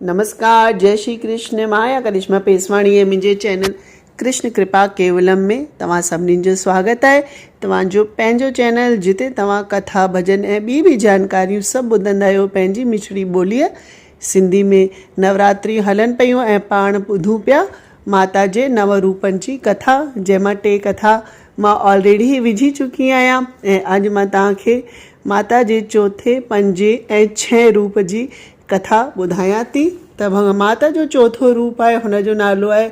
نمسڪار جئي شري ڪرشن مان آهيان ڪرشما پيسواڻي ۽ منهنجي چينل ڪرشن ڪرپا ڪيولم ۾ توهان سڀني جو سواگت آهي توهان جو پنهنجو چينل جتي توهان ڪٿا ڀڄن ۽ ٻي به جانڪاريون سڀ ٻڌندا آهيو پنهنجي مٺڙي ٻوليء سنڌي ۾ نوراتريون هلن پيون ۽ پاڻ ٻڌون پيا ماتا جي نو روپن جي ڪٿا جنهن مان ٽي ڪٿا مان آلريڊي وجهي چڪي آهيان ۽ اڄ مان توهان کي ماتا جي چوٿين پنجين ۽ ڇهين روپ جي ڪٿا ٻڌايان ٿي ته ڀنگ ماتا جو چوٿون روپ آهي هن جو نالو آهي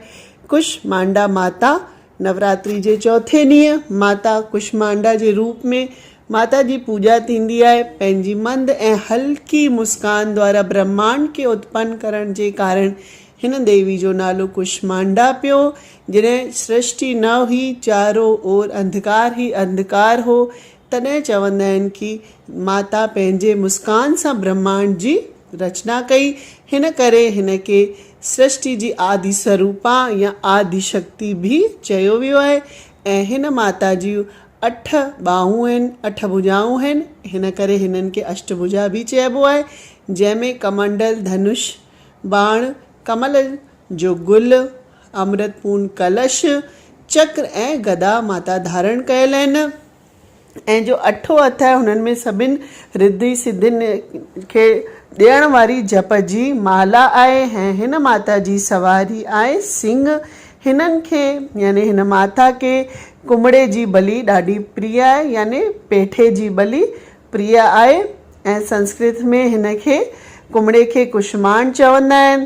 ڪش مانڊا ماتا نوراتري جي چوٿين ڏينهن ماتا ڪش مانڊا جي روپ ۾ ماتا جي پوڄا ٿيندي آهي پنهنجي مند ۽ هلڪي مسڪان دوارا برهمانڊ کي اتپن ڪرڻ جي ڪارڻ هن ديوي جو نالو ڪش مانڊا پيو جڏهن سرشٽي نه هئي چارو اور انڌڪار هي انڌڪار هو تڏهن چوندا آهن ڪي ماتا پنهنجي مسڪان سان برهماڻ جي رچنا ڪئي، هن ڪري هن کي سرشٽي جي آدي سروپا يا آدي شڪتي به چيو ويو آهي ۽ هن ماتا جون اٺ ٻانهون آهن، اٺ ڀجائون آهن، هن ڪري هنن کي اشٽڀجا به چئبو آهي، جنهن ۾ ڪمنڊل، ڌنش، باڻ، ڪمل جو گل، امرت پون ڪلش، چڪر ۽ گدا ماتا ڌارڻ ڪيل آهن ۽ جو اٺون هٿ آهي هنن ۾ سڀني رڌي سڌين کي ڏيڻ واري جپ جي مالا آهي ۽ هن ماتا جي سواري آهي سنگهه. هنن کي يعني هن ماتا کي ڪنبڙي جي بلي ڏاڍي پريا آهي يعني پيٺي جي بلي پريا آهي ۽ سنسڪرت ۾ هن کي ڪنبڙي کي ڪشماڻ چوندا آهن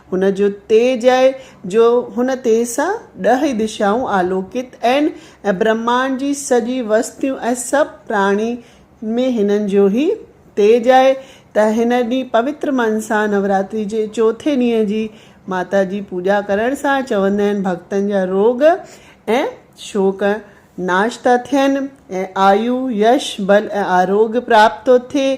هن جو تيج آهي جو هن تيز سان ڏهه ئي دشائون آلوڪت ائن ۽ برهمانڊ جي سڄي وستيون ۽ سڀ پراڻي ۾ هنن جو ئي تيج آهي ته هن ڏينهن پوتر من سان نوراتري جي چوٿين ڏينهن جي ماتا جي پوڄا ڪرڻ سان چوندا آهن ڀڳتن جا روڳ ۽ شوڪ ناش ٿا ٿين ۽ آيو، يش، بل ۽ آروگيه پراپت ٿو ٿئي.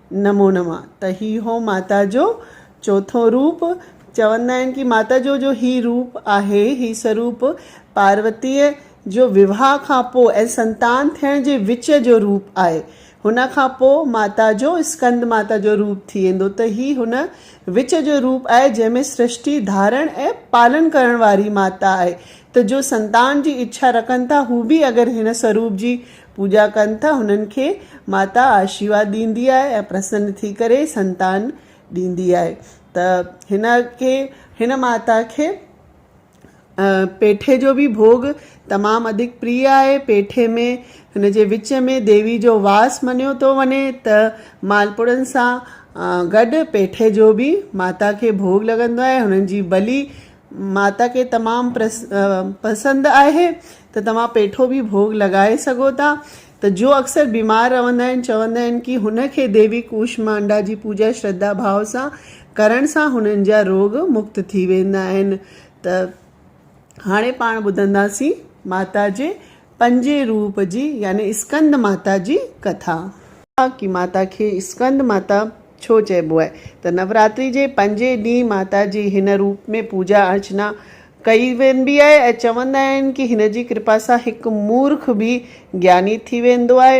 نمو نماء ته هي هو ماتا جو چوٿون روپ. چوندا آهن ڪي ماتا جو جو هي روپ آهي، هي سروپ پاروتيء جو وواهه کان پوء ۽ سنتان ٿيڻ جي وچ جو روپ آهي. هن کان پوء ماتا جو اسڪند ماتا جو روپ ٿي ويندو ته هي هن وچ جو روپ آهي جنهن ۾ سرشٽي ڌارڻ ۽ پالن ڪرڻ واري ماتا آهي ته جو سنتان جي اڇا رکن ٿا هو به اگر هن سروپ جي پوڄا ڪن ٿا هنن کي ماتا آشيواد ڏيندي آهي ۽ پرسن ٿي ڪري سنتان ڏيندي آهي ته هن کي هن ماتا کي پيٺي جو به ڀوڳ تمام اڌڪ پريء آهي پيٺي ۾ هن جي وچ ۾ ديوي جو واس مڃيو ٿو وڃي ته مالپوڙن سان گڏ پيٺي جو به ماتا کي ڀوڳ لڳندو آهي هنن جي بلي ماتا کي تمام پسند آهي ته توهان پيٺو به ڀوڳ لڳائي سگهو ٿا ته جو اڪثر بيمار رهندا آهن چوندا آهن ڪي هن کي ديوي ڪوشمانڊا جي پوڄا شرڌا ڀاء سان ڪرڻ سان هنن جا روڳ مڪت ٿي ويندا آهن ته هاڻي پاڻ ٻڌنداسين ماتا جي پنجين روپ جي يعني اسڪند ماتا جي ڪٿا. ڪي ماتا کي اسڪند ماتا ڇو چئبو آهي ته نوراتري جي پنجين ڏينهن ماتا جي هن روپ ۾ پوڄا ارچنا ڪئي وينبي آهي ۽ چوندا آهن ڪي هن جي ڪرپا سان هڪ مورک به گياني ٿي ويندو آهي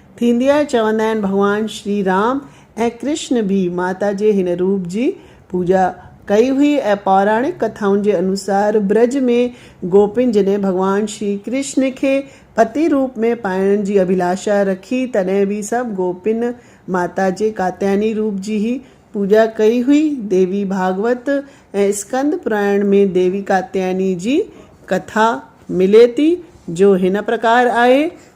ٿيندي آهي، چوندا آهن ڀڳوان شري رام ۽ ڪرشن به ماتا جي هن روپ جي پوڄا ڪئي هئي ۽ پوراڻڪ ڪٿائن جي انوسار برج ۾ گوپين جڏهن ڀڳوان شري ڪرشن کي پتي روپ ۾ پائڻ جي اڀلاشا رکي تڏهن به سڀ گوپين ماتا جي ڪاتياني روپ جي هي پوڄا ڪئي هئي ديوي ڀاڳوت ۽ اسڪند پراڻ ۾ ديوي ڪاتياني جي ڪٿا ملي ٿي جو هن پرڪار آهي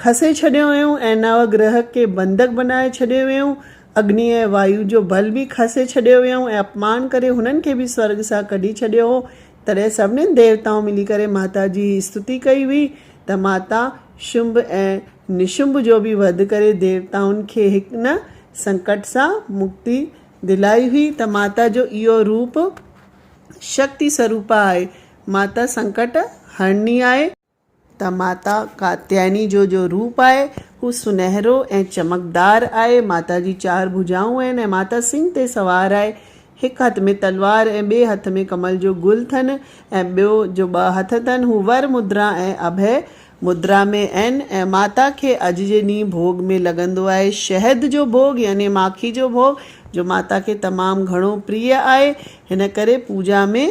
کسي ڇڏيو ويو ۽ نو گرهه کي بندڪ بنائي ڇڏيو ويو. اگني ۽ وايو جو بل به کسي ڇڏيو ويو ۽ اپمان ڪري هنن کي به سورڳ سان ڪڍي ڇڏيو هو. تڏهن سڀني ديوتائن ملي ڪري ماتا جي هي استتي ڪئي هئي ته ماتا شنڀ ۽ نشنڀ جو به وڌ ڪري ديوتائن کي هن سنڪٽ سان مڪتي دلائي هئي ته ماتا جو اهو روپ شڪتي سروپا آهي. ماتا سنڪٽ هرڻي آهي. ته ماتا ڪاتيايني جو جو روپ آهي هو سنهرو ۽ چمڪدار آهي، ماتا جي چار ڀجائون آهن ۽ ماتا سنگهه تي سوار آهي، هڪ هٿ ۾ تلوار ۽ ٻئي هٿ ۾ ڪمل جو گل ٿن ۽ ٻيو جو ٻه هٿ ٿن هو ور مدرا ۽ اڀي مدرا ۾ اين ۽ ماتا کي اڄ جي ڏينهن ڀوڳ ۾ لڳندو آهي شهد جو ڀوڳ يعني ماکي جو ڀوڳ جو ماتا کي تمام گهڻو پريء آهي هن ڪري پوڄا ۾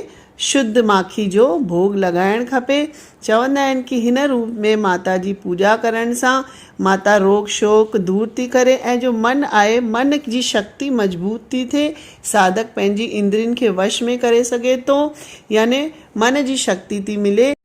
شد ماکي جو ڀوڳ لڳائڻ کپي. چوندا آهن ڪي هن روپ ۾ ماتا جي پوڄا ڪرڻ سان ماتا روڳ شوڪ دور ٿي ڪري ۽ جو من آهي من جي شڪتي مضبوط ٿي ٿئي ساڌڪ پنهنجي اندرين کي وش ۾ ڪري سگهي ٿو يعني من جي شڪتي ٿي ملي.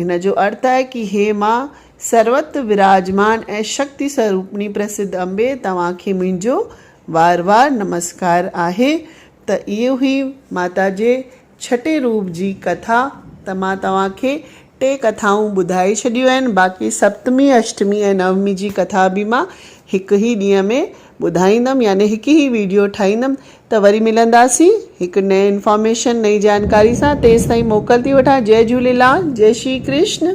هن جو ارٿ آهي ڪي هي ماء سروت وراجمان ۽ شڪتي سوروپني پرسڌ امبي توهان کي منهنجو وار وار نمسڪار آهي ته اهو هئي ماتا جي ڇٽي روپ جي ڪٿا ته مان توهان کي ٽي ڪٿائون ٻڌائي ڇڏيون آهن باقي سپتمي اشٽمي ۽ نومي جي ڪٿا به مان هڪ هي ڏينهن ۾ ٻڌائيندم يعني هڪ هي ويڊيو ٺاهيندم ته وري ملنداسين هڪ نئين انفارميشن نئين جانڪاري سان تيستائين موڪل ٿي وٺان جئي جهوليلال جئي شري ڪرشن.